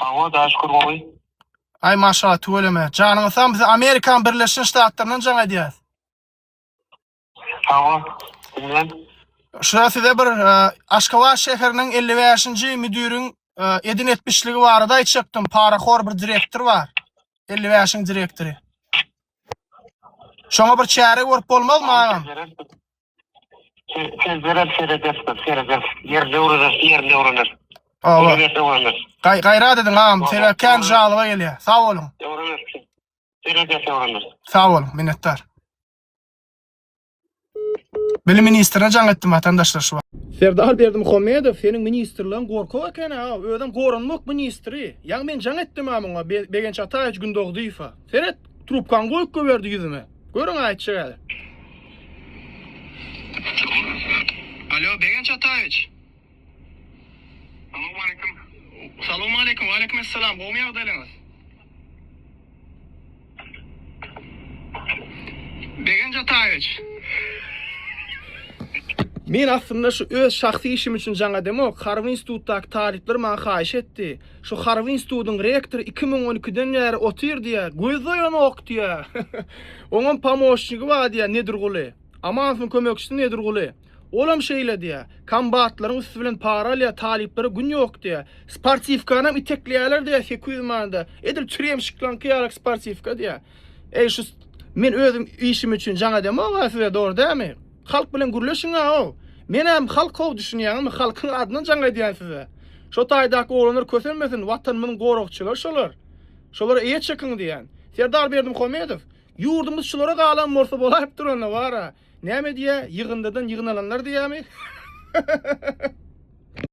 Hawa, daş kur gowy. Ay maşallah tüweleme. Janyňyz sag biz Amerikan Birleşen Ştatlaryndan jaň edýäs. Hawa, sizden. Şura size bir e, Aşgabat şäheriniň 55-nji müdiriň e, edin etmişligi barada aýtjakdym. Parahor bir direktor bar. 55-iň direktory. Şoňa bir çäre görüp bolmazmy agam? Siz sözlerem seredersiňiz, seredersiz. Ýerli öwrenir, ýerli öwrenir. Awa. Öwrenir, öwrenir. Gaý- Gaýrat ediň agam, sebäbi kän žalyba gelýär. Sag boluň. Öwrenir. Seredersiz, öwrenir. Sag boluň, minnetdar. Bilim ministrine jaň etdim watandaşlar şu wagt. Serdar Berdimuhamedow seniň ministrligiň gorkak eken a özem goranmak ministri ýaň men jaň etdim a muňa Be- Begenç Ataýewiç Gündogydyýewa seret trubkaň goýup goýberdi ýüzüme Görüň aýtjak hali. Alo Begenç Ataýewiç. Salam aleýkum. Salam aleýkum. Aleýkum assalam. Gowmy ýagdaýlaryňyz? Begenç Ataýewiç. Men aslynda şu öz şahsy işim üçin jaň edemok. Harby institutdaky talyplar maňa haýyş etdi. Şu harby institutyň rektory iki müň on ikiden bäri otyr diýä, göz doýanok diýä. Oňam pomoşnigi bar diýä Nedirguly. Amanowyň kömekçisi Nedirguly. Olam şeýle diýä. Kombatlaryň üsti bilen para alýa, talyplara gün ýok diýä. Sportiwkanam itekleýäler diýä sekiz ýüz manada. Edil çyrýemşiklaňky ýaly sportiwka diýä. Eý şu men özüm işim üçin jaň edemok-a size dogry dämi? Halk bilen gürleşiňä ow. Menem halk ow düşünýäňizmi halkyň adyndan jaň edýän size. Şo taýdaky oglanlar kösenmesin watanymyzyň goragçylary şolar. Şolara eýe çekiň diýýän. Serdar Berdimuhamedow ýurdumyz şulara galan bolsa bolaýypdyr onda bara. Näme diýýä ýygyndydan ýygnalanlar diýýämi.